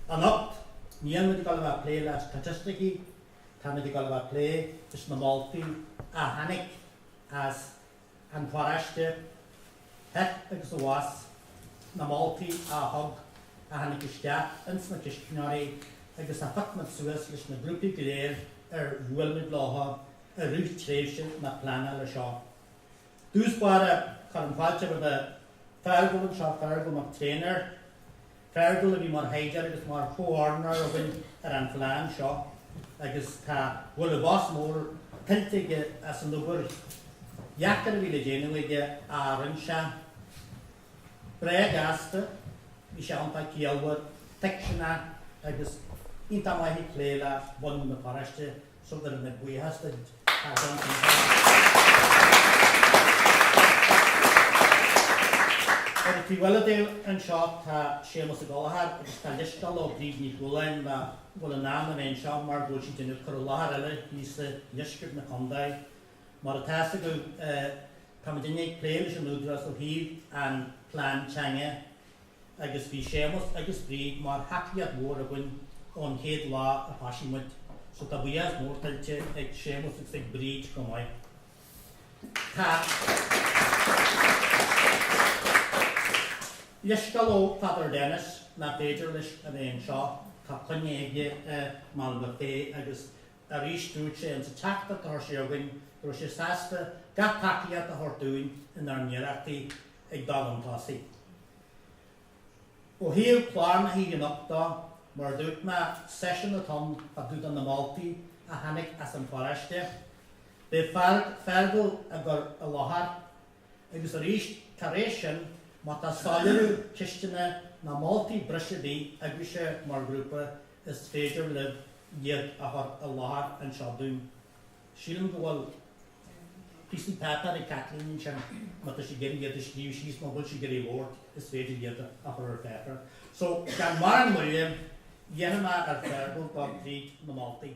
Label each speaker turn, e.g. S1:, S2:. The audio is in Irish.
S1: Anocht, níl muid ag dul a bheith ag plé le staitisticí, tá muid ag dul a bheith ag plé leis na moltaí a tháinig as an pharóiste thall agus abhus, na moltaí a thug, a tháinig isteach ins na ceistneoirí agus a phioc muid suas leis na grúpaí go léir ar bhuail muid leo i rith tréimhse na pleanála seo. dtús báire cuirim fáilte roimh Feargal anseo, Feargal Mac Thréinfhir, Feargal a bhí mar thaighdeoir agus mar chomhordnóir againn ar an phlean seo agus tá, bhfuil, buíochas mór tuillte aige as an obair dheacair a bhí le déanamh aige ar aon. Sé breá gasta, bhí sé iontach ciallmhar, tuigseanach agus iontach maith ag plé le bunadh na paróiste. so gabhaim buíochas duit, tá sé iontach maith. Ar an taobh eile díom anseo tá Séamus Ó Gallchóir agus tá leithscéal ó Bríd Ní Chualáin nach bhfuil in ann a bheith anseo mar go bhfuil sí ag déanamh cur i láthair eile thíos i ndeisceart na Condae. Mar atá fhios agaibh, tá muidinne ag plé leis an Údarás ó thaobh an plean teanga agus bhí Séamus agus Bríd mar thacaíocht mhór againn ón chéad lá a thoisigh muid so tá buíochas mór tuillte ag Séamus agus ag Bríd chomh maith. Tá leithscéal ó Father Denis nach féidir leis a bheith anseo, tá coinne aige i Málainn Bhig agus Arís, dúirt sé insa teachtaireacht a chuir sé chugainn go raibh sé sásta gach tacaíocht a thabhairt dúinn inár n-iarrachtaí ag dul chun tosaigh. Ó thaobh clár na hoíche anocht de, mar a dúirt mé, seisiún a chun dul tríd na moltaí a tháinig as an pharóiste. Beidh Feargal á gcur i láthair. Agus arís, tar éis sin, má tá soiléiriú, ceisteanna ná moltaí breise ar bith agaibhse mar ghrúpa, Is féidir libh iad a chur i láthair anseo dúinn. Sílim go bhfuil píosaí páipéir ag Caitlín ansin, má tá sibh ag iarraidh iad a scríobh síos, mura bhfuil sibh ag iarraidh labhairt, is féidir iad a chur ar pháipéar. So, gan mórán moille, iarrfaidh mé ar Feargal dul tríd na moltaí.